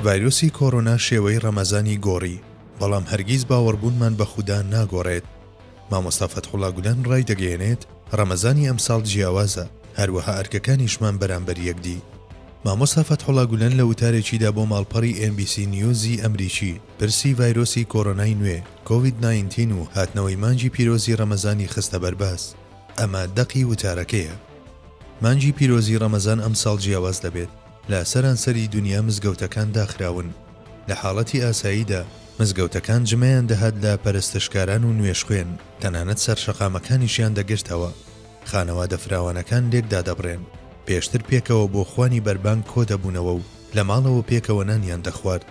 ڤایرۆسی کۆرۆنا شێوەی ڕەمەزانی گۆڕی، بەڵام هەرگیز باوەڕبوونمان بە خودا ناگۆڕێت. مامۆستا فەتحوڵا گودان ڕایدەگەیەنێت، ڕەمەزانی ئەمساڵ جیاوازە، هەروەها ئەرکەکانیشمان بەرامبەر یەکدی. مامۆستا فەتحوڵا گولەن لە وتارێکیدا بۆ ماڵپەڕی ئێن بی سی نیوزی ئەمریکی، پرسی ڤایرۆسی کۆرۆنای نوێ، کۆوید نایەنتین و هاتنەوەی مانگی پیرۆزی ڕەمەزانی خستە بەرباس. ئەمە دەقی وتارەکەیە. مانگی پیرۆزی ڕەمەزان ئەمساڵ جیاواز دەبێت، لە سەرانسەری دونیا مزگەوتەکان داخراون، لە حاڵەتی ئاساییدا مزگەوتەکان جمەیان دەهات لە پەرستشکاران و نوێژخوێن، تەنانەت سەرشەقامەکانیشیان دەگرتەوە، خانەوادە فراوانەکان لێک دادەبڕێن، پێشتر پێکەوە بۆ خوانی بەربانگ کۆدەبوونەوە و لە ماڵەوە پێکەوە نانیان دەخوارد.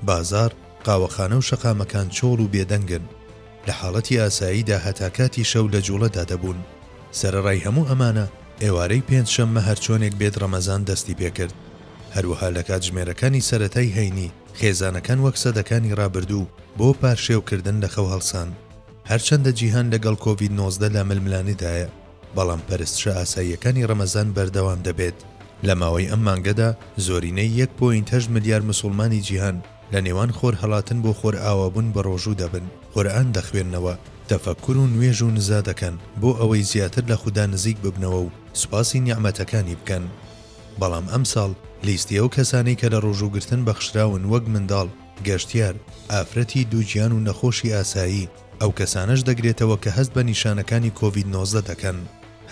بازاڕ، قاوەخانە و شەقامەکان چۆڵ و بێدەنگن، لە حاڵەتی ئاساییدا هەتا کاتی شەو لە جووڵەدا دەبوون. سەرەڕای هەموو ئەمانە، ئێوارەی پێنجشەممە هەرچۆنێک بێت ڕەمەزان دەستی پێ کرد. هەروەها لە کاتژمێرەکانی سەرەتای هەینی، خێزانەکان وەک سەدەکانی ڕابردوو بۆ پارشێوکردن لە خەو هەڵسان. هەرچەندە جیهان لەگەڵ کۆڤید نۆزدە لا ململانێدایە، بەڵام پەرستشە ئاساییەکانی ڕەمەزان بەردەوام دەبێت. لە ماوەی ئەم مانگەدا زۆرینەی یەک پۆینت هەشت ملیار مسوڵمانی جیهان لە نێوان خۆرهەڵاتن بۆ خۆرئاوابوون بە ڕۆژوو دەبن، قورئان دەخوێننەوە، تەفەککور و نوێژ و نزا دەکەن بۆ ئەوەی زیاتر لە خودا نزیک ببنەوە و سوپاسی نیعمەتەکانی بکەن. بەڵام ئەمساڵ لیستی ئەو کەسانەی کە لە ڕۆژووگرتن بەخشراون وەک منداڵ، گەشتیار، ئافرەتی دووگیان و نەخۆشی ئاسایی، ئەو کەسانەش دەگرێتەوە کە هەست بە نیشانەکانی کۆڤید نۆزدە دەکەن.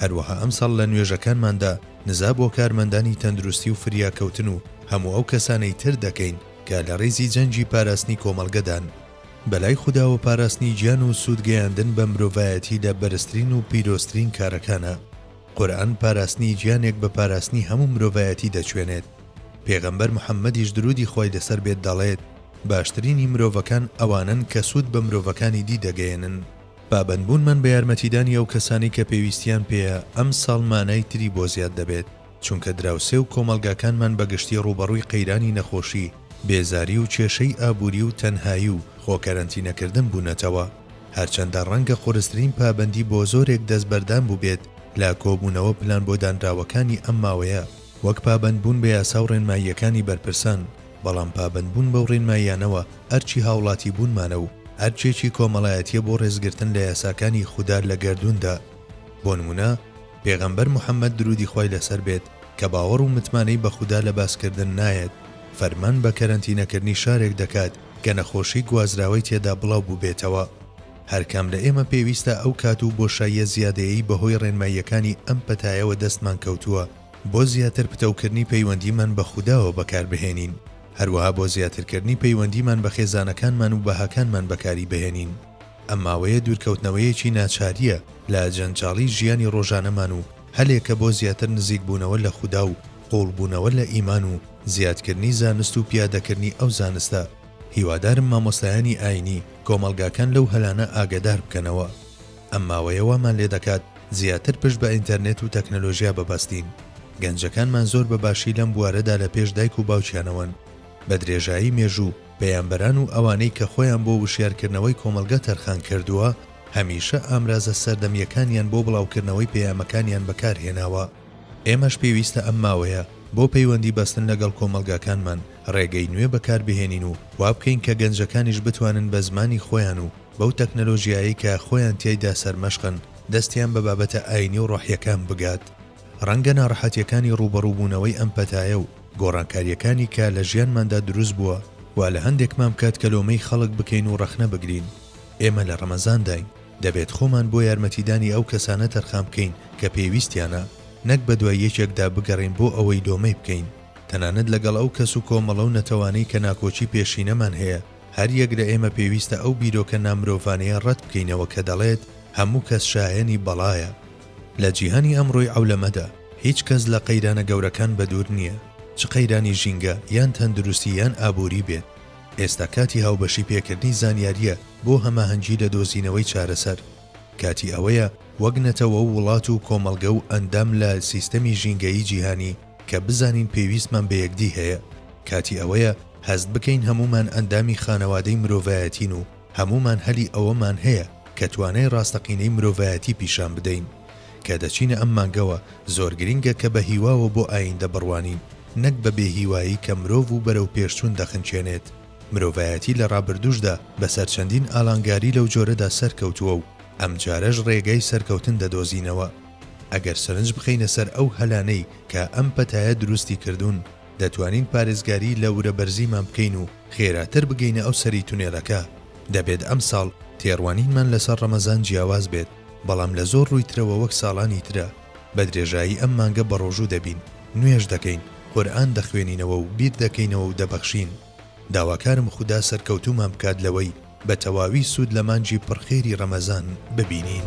هەروەها ئەمساڵ لە نوێژەکانماندا نزا بۆ کارمەندانی تەندروستی و فریاکەوتن و هەموو ئەو کەسانەی تر دەکەین کە لە ڕیزی جەنگی پاراستنی کۆمەڵگەدان. بەلای خوداوە پاراستنی گیان و سوود گەیاندن بە مرۆڤایەتی لە بەرزترین و پیرۆزترین کارەکانە. قورئان پاراستنی گیانێک بە پاراستنی هەموو مرۆڤایەتی دەچوێنێت. پێغەمبەر محەممەدیش دروودی خوای لەسەر بێت دەڵێت. باشترینی مرۆڤەکان ئەوانەن کە سوود بە مرۆڤەکانی دی دەگەیەنن. پابەندبوونمان بە یارمەتیدانی ئەو کەسانەی کە پێویستیان پێیە ئەمساڵ مانای تری بۆ زیاد دەبێت، چونکە دراوسێ و کۆمەڵگاکانمان بە گشتی ڕووبەڕووی قەیرانی نەخۆشی، بێزاری و کێشەی ئابووری و تەنهایی و خۆ کەرەنتینەکردن بوونەتەوە. هەرچەندە ڕەنگە قورسترین پابەندی بۆ زۆرێک دەستبەردان بووبێت لە کۆبوونەوە پلان بۆ دانراوەکانی ئەم ماوەیە، وەک پابەندبوون بە یاسا و ڕێنماییەکانی بەرپرسان، بەڵام پابەندبوون بەو ڕێنماییانەوە ئەرکی هاوڵاتیبوونمانە و ئەرکێکی کۆمەڵایەتییە بۆ ڕێزگرتن لە یاساکانی خودا لە گەردووندا. بۆ نموونە، پێغەمبەر محەممەد، درودی خوای لەسەر بێت، کە باوەڕ و متمانەی بە خودا لە باسکردن نایەت، فەرمان بە کەرەنتینەکردنی شارێک دەکات کە نەخۆشی گوازراوەی تێدا بڵاو بووبێتەوە. هەر کام لە ئێمە پێویستە ئەو کات و بۆشاییە زیادەیەی بەهۆی ڕێنماییەکانی ئەم پەتایەوە دەستمان کەوتووە، بۆ زیاتر پتەوکردنی پەیوەندیمان بە خوداوە بەکاربهێنین، هەروەها بۆ زیاترکردنی پەیوەندیمان بە خێزانەکانمان و بەهاکانمان بەکاری بهێنین. ئەم ماوەیە دوورکەوتنەوەیەکی ناچارییە لە جەنجاڵی ژیانی ڕۆژانەمان و هەلێکە بۆ زیاتر نزیکبوونەوە لە خودا و قووڵبوونەوە لە ئیمان و زیادکردنی زانست و پیادەکردنی ئەو زانستە. هیوادارم مامۆستایانی ئایینی کۆمەڵگاکان لەو هەلانە ئاگەدار بکەنەوە. ئەم ماوەیە وامان لێ دەکات زیاتر پشت بە ئینتەرنێت و تەکنەلۆژیا ببەستین. گەنجەکانمان زۆر بە باشی لەم بوارەدا لە پێش دایک و باوکیانەوەن. بە درێژایی مێژوو، پەیامبەران و ئەوانەی کە خۆیان بۆ وشیارکردنەوەی کۆمەڵگە تەرخان کردووە، هەمیشە ئامرازە سەردەمییەکانیان بۆ بڵاوکردنەوەی پەیامەکانیان بەکار هێناوە. ئێمەش پێویستە ئەم ماوەیە بۆ پەیوەندی بەستن لەگەڵ کۆمەڵگاکانمان، ڕێگەی نوێ بەکار بهێنین و وا بکەین کە گەنجەکانیش بتوانن بە زمانی خۆیان و بەو تەکنەلۆژیایەی کە خۆیان تیایدا سەرمەشقن دەستیان بە بابەتە ئایینی و ڕۆحییەکان بگات، ڕەنگە ناڕەحەتییەکانی ڕووبەڕووبوونەوەی ئەم پەتایە و گۆڕانکارییەکانی کە لە ژیانماندا دروست بووە، وا لە هەندێکمان بکات کە لۆمەی خەڵک بکەین و ڕەخنە بگرین. ئێمە لە ڕەمەزانداین، دەبێت خۆمان بۆ یارمەتیدانی ئەو کەسانە تەرخان بکەین کە پێویستیانە، نەک بەدوای یەکێکدا بگەڕێین بۆ ئەوەی لۆمەی بکەین، تەنانەت لەگەڵ ئەو کەس و کۆمەڵە و نەتەوانەی کە ناکۆکی پێشینەمان هەیە. هەر یەک لە ئێمە پێویستە ئەو بیرۆکە نامرۆڤانەیە ڕەت بکەینەوە کە دەڵێت هەموو کەس شایەنی بەڵایە. لە جیهانی ئەمڕۆی عەولەمەدا، هیچ کەس لە قەیرانە گەورەکان بەدوور نییە، چ قەیرانی ژینگە، یان تەندروستی یان ئابووری بێت. ئێستا کاتی هاوبەشی پێکردنی زانیارییە بۆ هەماهەنگی لە دۆزینەوەی چارەسەر. کاتی ئەوەیە وەک نەتەوە و وڵات و کۆمەڵگە و ئەندام لە سیستەمی ژینگەیی جیهانی کە بزانین پێویستمان بە یەکدی هەیە. کاتی ئەوەیە هەست بکەین هەموومان ئەندامی خانەوادەی مرۆڤایەتین و هەموومان هەلی ئەوەمان هەیە کە توانای ڕاستەقینەی مرۆڤایەتی پیشان بدەین. کە دەچینە ئەم مانگەوە، زۆر گرنگە کە بە هیواوە بۆ ئاییندە بڕوانین، نەک بە بێهیوایی کە مرۆڤ و بەرەوپێشچوون دەخنکێنێت. مرۆڤایەتی لە ڕابردووشدا بەسەر چەندین ئالانگاری لەو جۆرەدا سەرکەوتووە و ئەمجارەش ڕێگای سەرکەوتن دەدۆزینەوە. ئەگەر سەرنج بخەینە سەر ئەو هەلانەی کە ئەم پەتایە دروستی کردوون، دەتوانین پارێزگاری لە ورە بەرزیمان بکەین و خێراتر بگەینە ئەو سەری تونێلەکە، دەبێت ئەمساڵ تێڕوانینمان لەسەر ڕەمەزان جیاواز بێت، بەڵام لە زۆر ڕووی ترەوە وەک ساڵانی ترە، بە درێژایی ئەم مانگە بەڕۆژوو دەبین، نوێژ دەکەین، قورئان دەخوێنینەوە و بیردەکەینەوە و دەبەخشین. داواکارم خودا سەرکەوتوومان بکات لەوەی بە تەواوی سوود لە مانگی پڕ خێری ڕەمەزان ببینین.